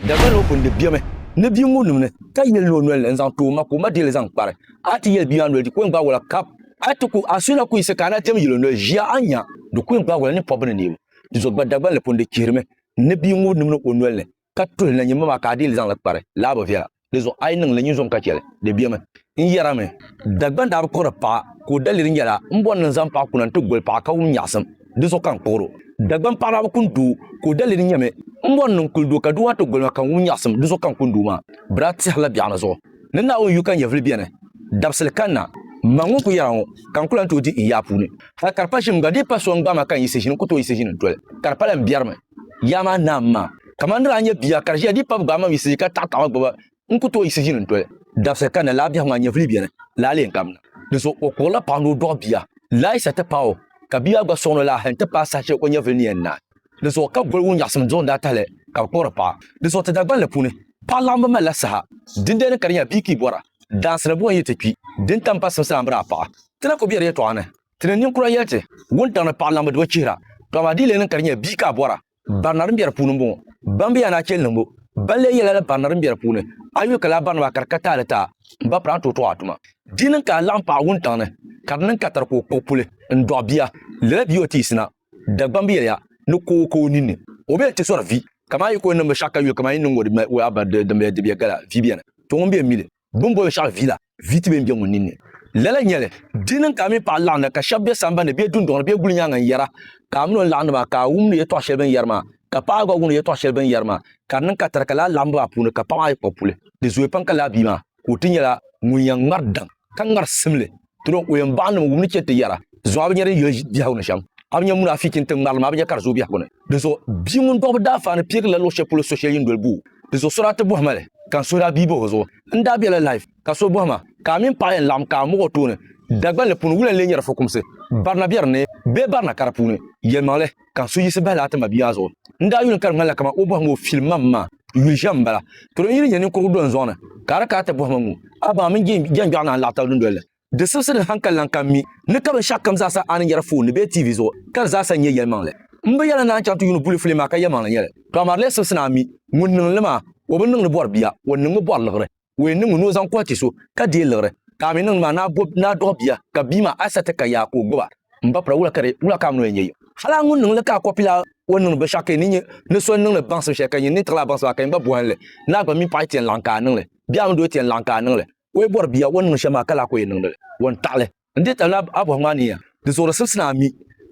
Dagban ŋɔ kundib bemi ni bia ŋɔ nuu ni, ka yeli ni o nolini n-zaŋ ti o ma ka o ma deei li zaŋ kpari. A ni ti yeli bia maa noli di ku yɛn gbaag o la kap. A ti ku a suhina ku yiɣisi ka a na diɛm yeli o noli ʒiya a ni nya di ku yɛn gbaag o la ninpɔbbi ni neebu. Tizo gba Dagban li pundi chihirimi ni bia ŋɔ nimni o nolini ka tuhi li na nyini ma maa ka a deei li zaŋ li kpari, laa bi viɛla. Di zuɣu a yi niŋ li, nyin zuɣu ka chɛ li. Di bemi. N yɛrimi. Dagbaŋ daa bi kpuɣiri paɣa, ka o daliri nyɛla, M bɔri ni n zaŋ paɣa kuna nti goli paɣa ka wum nyaɣisim, di zuɣu ka n kpuɣir o. Dagbaŋ paɣa daa bi kuni doo, ka o daliri nyɛmi, M bɔri ni n kuli doo ka doo maa ti goli ma ka n wum nyaɣisim, di zuɣu ka n kuni doo maa. Bɛ daa tɛhirila biɛɣuni zuɣu ni Naawuni yu ka nyɛvili beni. Dabisili kanna, m ma ŋun ku yɛra ŋɔ, ka n ku lan tooi di n yaa puuni. Hal ka di pa ʒim gba, di yi pa so n-gbaai ma ka n yiɣisi ʒini, n ku tooi yiɣisi ʒini n-toli, ka di pa lan biɛrimi. Yaa maa naam ma, kaman di daa nyɛ bia ka di ʒiya dii pab gbaai mam yiɣisi ka taɣi taɣima gbuba, n ku tooi yiɣisi ʒini n-doli. Dabisili ka na laa biɛhigu maa nyɛvili beni laa lee n-gari na. Dinzuɣu o kurila paɣa ni o dɔɣi bia laa yisa ti paai o, ka bia maa gba sɔŋ ni o laa hal nti paai saha shɛli o nyɛvili ni yɛn naai. Dinzuɣu ka boligu nyaɣisim do n-daa tahili ka bɛ kpuɣiri paɣa. Dinzuɣu ti Dagbanli puuni, paɣa laɣim bi malila saha. Dindali ni ka di nya bia ka yi bɔra, Daansi ni buɣim yi ti kpi, din tam basim sa a ni bi daa paɣi. Ti na ku be di yɛtɔɣa ni. Ti ni ninkura yɛli ti, wuntaŋ ni paɣa laŋbu di bi chihira, to amaa di yi lee niŋ ka di nyɛ bia ka a bɔra, barina din be di puuni m-bɔŋɔ. Ban be ya ni a cheli niŋbu, ban lee yɛla la barina din be di puuni, a yuli ka lala barinima a ka di ka taali ti a, m ba pili a ni tooi tɔɣi a tuma. Di niŋ ka a laɣim paɣa wuntaŋ ni, ka di niŋ ka a tari ka o kpuɣi puli n-dɔɣi bia, lala bia o ti yiɣisi na, Dagbam bi yɛli ya ni ka o ka o ninni, o be ni ti sɔri vi, kaman a yi ka o niŋbu shɛɣu ka yuli kaman yi ni niŋ o di ma o a ba di din be di be gala vi beni, to ŋun be m-mi li. Bɛ ni boli shɛɣu vila, vi ti be m-be ŋun ninni. Lala n-nyɛ li, di niŋ ka a mini paɣa laɣim na ka shɛba be sambani ni bee dundɔŋ ni bee guli nyaaŋa n-yɛra, ka a mini o ni laɣim ni maa ka a wumdi yɛtɔɣ shɛli bɛ ni yɛri maa, ka paɣa gba wumdi yɛtɔɣ shɛli bɛ ni yɛri maa, ka di niŋ ka tariga lahi laɣim ba maa puuni ka paɣa maa yi kpuɣi puli. Di zooya pam ka lala bia maa, ka o ti nyɛla ŋun yɛn ŋari daŋ, ka ŋari simli Turo, o yɛn baɣa nim wum ni chɛ ti yɛra, Zuŋɔ a bi nya din yoli biɛhigu ni shɛm, a bi nya muna a fi chinti ŋmarili maa, a bi nya ka di zooi biɛhigu ni. Dinzuɣu bia ŋun dɔɣi bi daa faani piɛgirila luɣ shɛli polo so shɛli yini doli boo. Dinzuɣu so daa ti bɔhi ma li, ka n suhiri a bia bahi o zuɣu. N daa bela life, ka so bɔhi ma, Ka a mini paɣa yɛn laɣim ka a muɣi o tooni? Dagbanli puuni, wula n-lee nyɛri fukumsi? Barina be di ni bee barina ka di puuni? Yɛlimaŋli. ka so yiɣisi bahi laa ti mabia maa zuɣu. N daa yuli ka di ŋmanila kamani o bɔhimi o fili mam maa yuli shɛm m-bala. Tɔro n yi ni nya ninkurugu do n zuɣu ni, ka a di kana ti bɔhima ŋ-ŋu a baŋa mini jɛnjɔɣu naa n-laɣi tab dundoli ni. Di sibisi din hankali lan kan mi ni ka binshɛɣu kam zaa sa a ni nyari foon ni bee TV zuɣu ka di zaa sa nyɛ yɛlimaŋli. M bi yɛla ni a ni chaŋ ti yuuni bulifuli maa ka yɛlimaŋli nyɛ li. Tɔɣimari lee sibisi ni a mi ŋun niŋ li maa, o bi niŋ li bɔri bia, o niŋmi bɔri liɣiri. o yɛn niŋmi ni o zaŋ kuhi ti so, ka deei liɣiri, ka a mi niŋdi maa ni a bɔbi ni a dɔɣi bia, ka bia maa a sa ti ka yaa ka o gbuba, m ba pira, wula ka di, wula ka a mi ni o yɛn nyɛ yim? Hal a ŋun niŋ li ka a kɔpi la o ni niŋdi binshɛɣu ka yi ni nya ni so n-niŋdi baŋsim shɛli ka yi nya ni tiɣila a baŋsim maa ka yi gba bɔhim li, ni a gba mini paɣa yi ti yɛn laɣim ka a niŋ li, bee a mini doo yi ti yɛn laɣim ka a niŋ li, o yi bɔri bia o ni niŋdi shɛli maa ka lahi ka o yɛn niŋdi li, o ni taɣi li. N di tali ni a bɔhim a ni ya di zuɣuri simsi ni a mi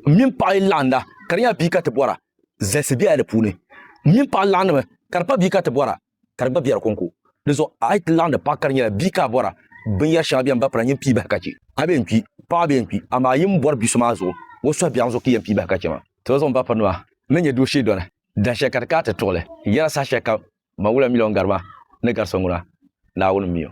m mini paɣa yi laɣinda ka di nyɛla bia ka ti bɔra, zalisi bela di puuni. M mini paɣa laɣindimi ka di pa bia ka ti bɔra ka di gba be di kɔŋko. Di zuɣu a yi ti laɣindi paɣa ka di nyɛla bia ka a bɔra, binyɛr shɛŋa beni bapala nyin pii bahi ka chɛ a bee n-kpi, paɣa bee n-kpi, amaa yin bɔri bi so maa zuɣu o suhi biɛɣu zuɣu ka yɛn pii bahi ka chɛ ma. Ti ba zuɣu m-ba pirinima ni nyɛ doo shee doli dahin shɛli ka di ka a ti tuɣi li yɛra saha shɛli kam ban wula miliɔn gari maa ni gari so ŋuna, Naawuni m-mi o.